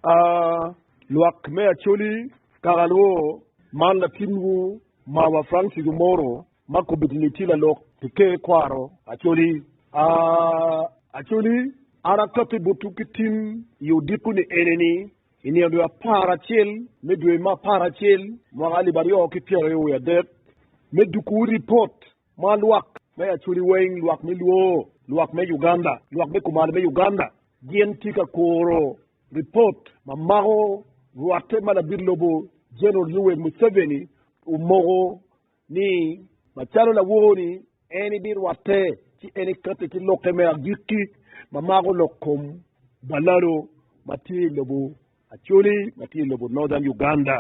A Lwak me Acholi, Kakalwo, man latinwu mawa Frank Kigumoro ma kobeddi ni tye lalok pi Ker Kwaro Acholi. A Acholi, an akati botwu ki tim i odiko ni eneni, i nino dwe apar acel me dwe me apar acel mwaka alip aryo ki pyera aryo wiye adek, me dukuwu ripot ma lwak me Acholi weng, lwak me Luo, lwak me Uganda, lwak me kumalo me Uganda, Gin tye ka kuro ripot ma mako rwatte ma labit lobo General Yoweri Museveni omoko ni macalo lawor-ri en ebirwatte ci en ekate ki lokke me agikki ma mako lok kom balalo ma tye i lobo Acholi ma tye i lobo Northern Uganda.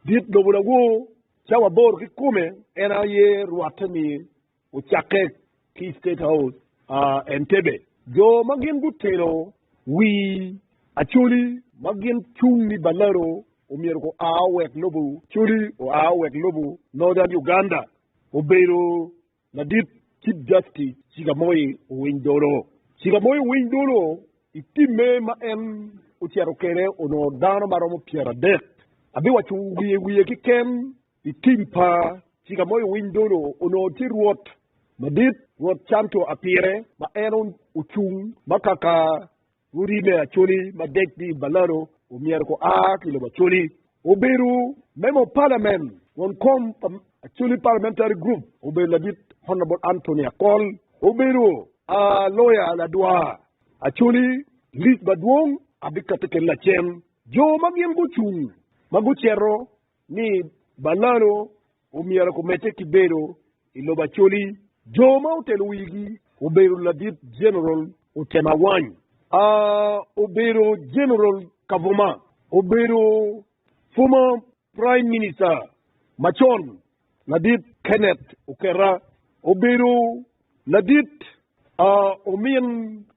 Dit lobo lawor cawa aboro kikome en aye rwatte-ni Ocakke ki i State House, Entebbe. Jo ma gin gutelo wi Acholi ma gin cung ni Balaro omyero gua wek lobo Acholi oa wek lobo Northern Uganda, obedo ladit Chief Justice Chigamoy Owiny Dolo. Chigamoy Owiny Dolo i timme ma en ocito kwede onongo dano ma romo pyeradek, abiwaco wiye wiye kiken. I tim pa cika moyo winy dono onongo tye rwot madit, rwot canto apire, ma en ocung ma kaka rodi me Acholi ma deggi i balado omyero ko a ki lobo Acholi. Obedo member of parliament won kom pa Acholi parliamentary group obedo ladit Honourable Anthony Akol. Obedo a lawyer ladwa Acholi league madwong abikati kene lacen jo ma gin gucung ma gucito ni balano omyero kumedde ki bedo i lobo Acholi. Jo ma otelo wigi obedo Ladit Jeneral Otem Awany, obedo Jeneral Kavuma, obedo former Prime Minister macon Ladit Kenneth Okerra, obedo Ladit Omin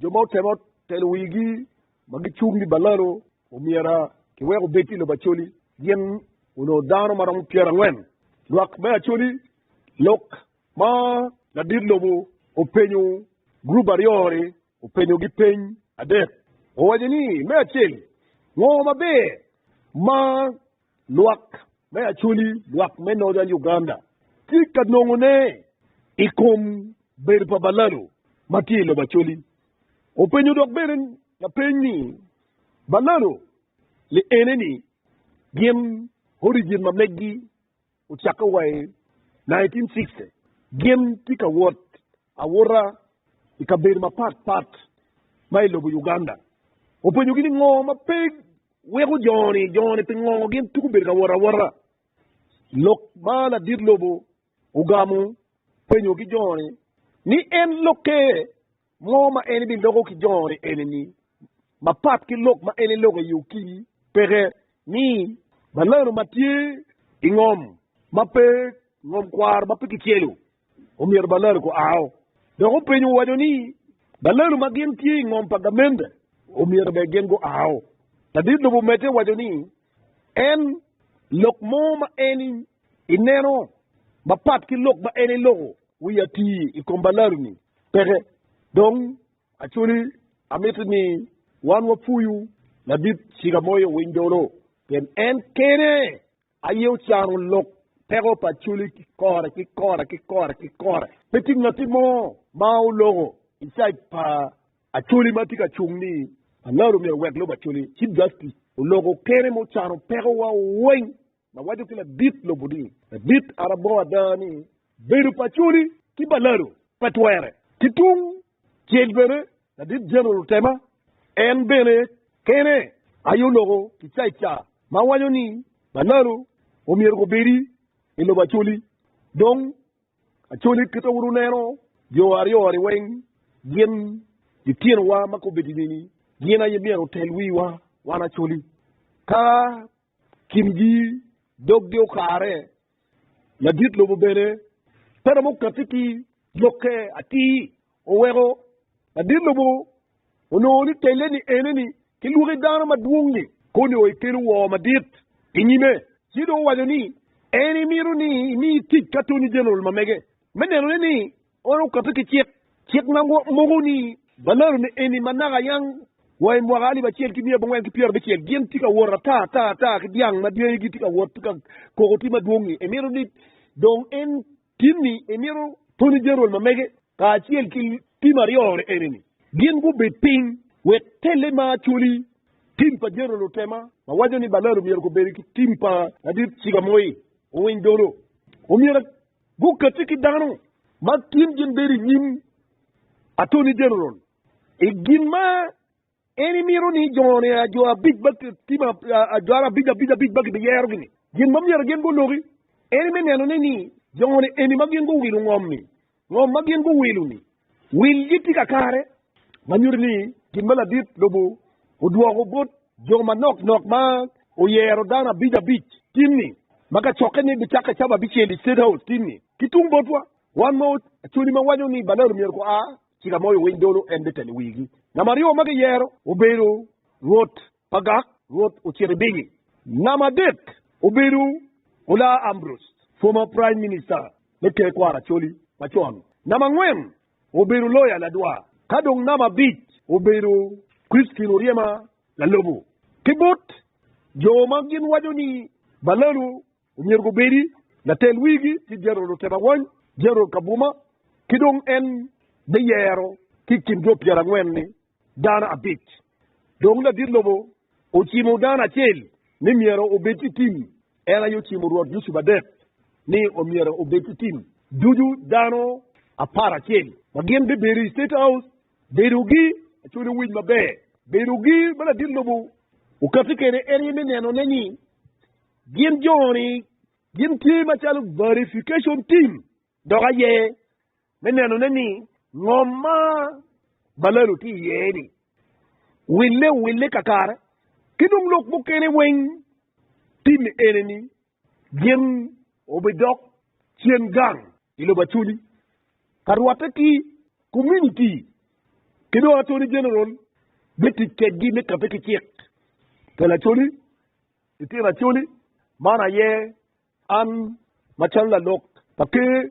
Jo ma otemo telo wigi ma gicung ni balalo omyera kiwek obed i lobo Acholi gin onongo dano ma romo pyerangwen. Lwak me Acholi lok ma ladit lobo openyo gurup aryo ni openyo gi peny adek. Owaco ni me acel, ngo maber ma Lwak me Acholi, lwak me Northern Uganda, tye ka nongo ne i kom bedo pa Balalo ma tye i lobo Acholi. Openyo dok bene lapeny ni, Balalo li ene ni gin origin ma meggi? Ocakke wa i nineteen sixty, gin tye ka wot awota i kabedo mapat pat ma i lobo Uganda. Openyogi ni ngo ma pe weko jo-ni, jo-ni pingo gin tuko bedo ka wot awota? Lok ma ladit lobo ogamo penyogi jo-ni ni en lokke Ngo ma en ibinoko ki jongoni enini mapat ki lok ma en iloko i okimi? Peke. Ni. Balano ma tye i ngom ma pe ngom kwaro ma pe kicelo omyero balano ku ao. Dok openyo owaco ni balano ma gin tye i ngom pa gamente omyero bene gin gu ao. Ladit lobo omedde waco ni en lok mo ma en ineno mapat ki lok ma en iloko. Wiya ti i kom balari-ni peke. Dong actually amiti ni wan wapuyu ladit ciga moyo owiny dolo pien en kene aye ocano lok peko pa actually ki kore ki kore ki kore ki kore. Pe ti ngati mo ma oloko i side pa actually ma ti ka cung ni balari omyero owek lub actually. Chief Justice oloko kene ma ocano peko wa weny. ma waco ki ladit lobo ni, Ladit arabo ada ni bedo pa Acholi ki balado pe twere. Ki tung cel bene ladit General Otema en bene kene aye oloko kicaica ma waco ni balado omyero gubedi i lobo Acholi. Dong Acholi kit ma wun wuneno jo aryo-ni weng gin litinowa ma kobedini-ni gin aye myero otel wiwa wan Acholi. Ka kingi, doggi okare, ladit lobo bene pe romo katti ki lyokke atir. Oweko ladit lobo onongo ni telle-ni eneni ki lwaki dano madwong-ngi koni o ekelo woo madit i nyime, ci dong owaco ni en emito ni emi tic ki Attorney General mamege me nenone ni Ono okape ki cik, cik ma moko ni, Balalo ni eni ma naka yang wa i mwaka alip acel ki mia abongwen ki pyerabicel gin tye ka wot ata ata ata ki dyang ma dyegi tye ka wot ka koko ti madwong ni emito ni dong en tin ni emito pwonyo Jeneral ma mege kacel ki tim aryo eni ni gin gubed piny wek telle ma acholi tim pa Jeneral otema ma waco ni Balalo myero kobedi ki tim pa ladit ciga moi owiny dolo omyero Gukatti ki dano ma gin gin bedo i nyim Atoni Jeneral i gin ma en imito ni jone ajo abic ba tim ajo abic abic abic ba gibiyero-gi ni. Gin ma myero gin guloki en me neno ni ni jone eni ma gin guwilo ngom-mi, ngom ma gin guwilo-ni, Wilgi tye kakare ma nyuto ni gin ma ladit lobo odwoko bot jo manok nok ma oyero dano abic abic timni ma ka cokke ni bicakke cabo abicel i State House timni. Ki tung botwa, wan ma Acholi ma waco ni Balalo myero gua ci ka moyo winy dolo en bitelo wigi. Namba aryo ma giyero obedo rwot Agak, Rwot ocito i bigi. Namba adek obedo Olaa Ambrose, former Prime Minister me Ker Kwar Acholi macon. Namba angwen obedo Loya Ladwa, ka dong namba abic obedo Christine Oryema Lalobo. Ki bot jo ma gin waco ni Balalo Omyero gubedi latel wigi ki jeneral otema wany, jeneral kabuma, ki dong en biyero ki i kin jo pyerangwen-ni dano abic. Dong ladit lobo ocimo dano acel ni myero obed ki tim, en aye ocimo rwot Yucup adek ni omyero obed ki tim. Ducu dano apar acel ma gin bibedo i State House bedogi acwali owic maber. Bedogi ma ladit lobo okati kwede en aye me nenone ni Gin jo-ni gin tye macalo verification team dok aye me nenone ni ngom ma balalo tye iye-ni wille owille kakare ki dong lok mukene weng tim eneni gin obidok cen gang i lobo Acholi ka rwatte ki komuniti ki dong Attorney General bitic kedgi me kabbe ki cik. Cal Acholi Litino Acholi, Man aye an macalo lalok pa Ker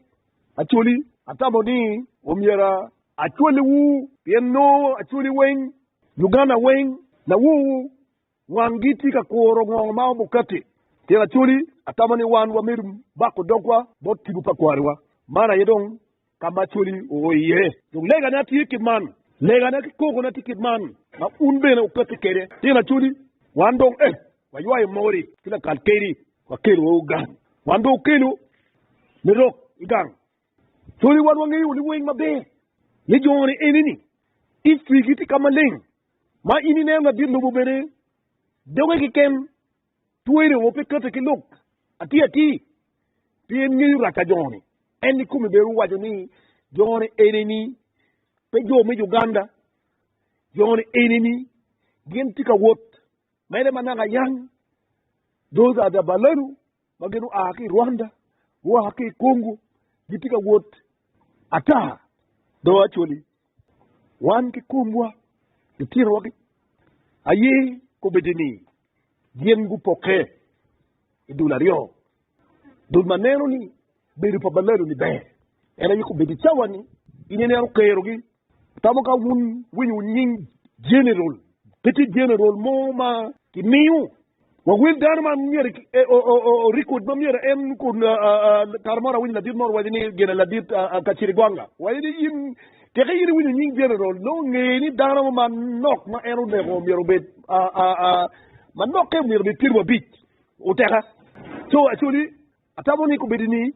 Acholi, atamo ni omyero acwaliwu pien nongo Acholi weng, Luganda weng, lawowu wanggi tye ka kuro ngo ma Mukati. Litino Acholi, atamo ni wan wamedo bako dogwa bot tipo pa kwariwa. Man aye dong ka ma coli oo iye. Dong legana tye kit man, legana ki kogona tye kit man, ma wun bene wupekke kwede. Tyen acoli, wan dong ee, waywayo mori ki lakal keri, wakelo woko gang, wan dong okelo me rok i gang. Coli, wan wangeyo liweng maber me joni eni ni, i cwigi tye ka maleng, ma in ineno ladit lobo bene doge keken. Twerri ongo pe kati ki lok atir atir, pien en ngeyo rac pa jo-ni. En ikome bene owaco ni, Jo-ni enini, pe jo me Uganda, jo-ni enini, gin tye ka wot mere ma naka yang, those are the Balendu ma gin oa ki i Rwanda, gua ki i Congo, gitye ka wot ata, though actually wan ki komwa, litinowa ki aye kobeddi ni Gin gupokke i dul aryo, dul ma neno ni bedo pa balado-ni ber, en aye kobedo i cawa-ni, in ineno kerogi. Atamo ka wun winyo nying jeneral. Pe tye jeneral mo ma kimiyo wa wel dano ma myero orikod ma myero en kara mo awinyo ladit mo waco ni gin ladit Kacirigwanga waco ni in Teke in iwinyo nying General nongo nge ni dano mo ma nok ma en oneko myero obed ma nokke myero obed pyerwi abic oteka. Co acoli atamo ni kubedi ni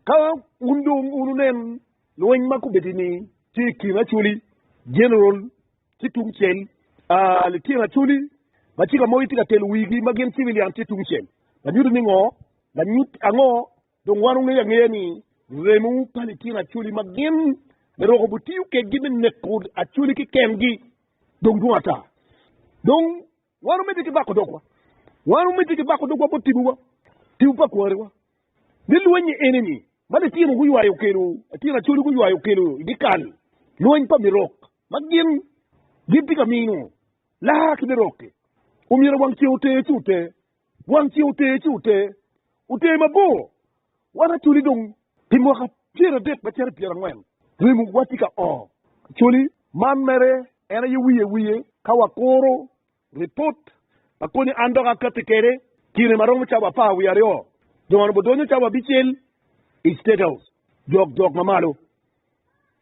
ka un dong un unen lweny ma kubedi ni tye i kin acoli General ki tung cel litino acoli ma ci ka mogi tye ka telo wigi ma gin civilian tye tung cel, lanyuto ni ngo? Lanyut ango? Dong wan wungeyo angeya ni remo pa litino acoli ma gin laroko butiyo kedgi me neko acoli ki kengi dong dwong ata. Dong wan wumedde ki bako dogwa, wan wumedde ki bako dogwa bot tibuwa, tibu pa kwariwa. Ni lwenyi eni-ni ma litino guywayo okelo, litino acoli guywayo okelo i dyekal, lweny pa mirok ma gin gitye ka mino laa ki mirok-ki, omyero wang ceng ote ci ote. Wang ce oter ci oter, oter mabor wan Acholi dong pi mwaka pyeradek macito pyerangwen remo watye ka oo. Acholi man mere en aye wiye wiye ka wakuro ripot pa konye an dok akatti kede kine maromo cawa apar wiye aryo dong an obodonyo cawa abicel i State House jok jok mamalo.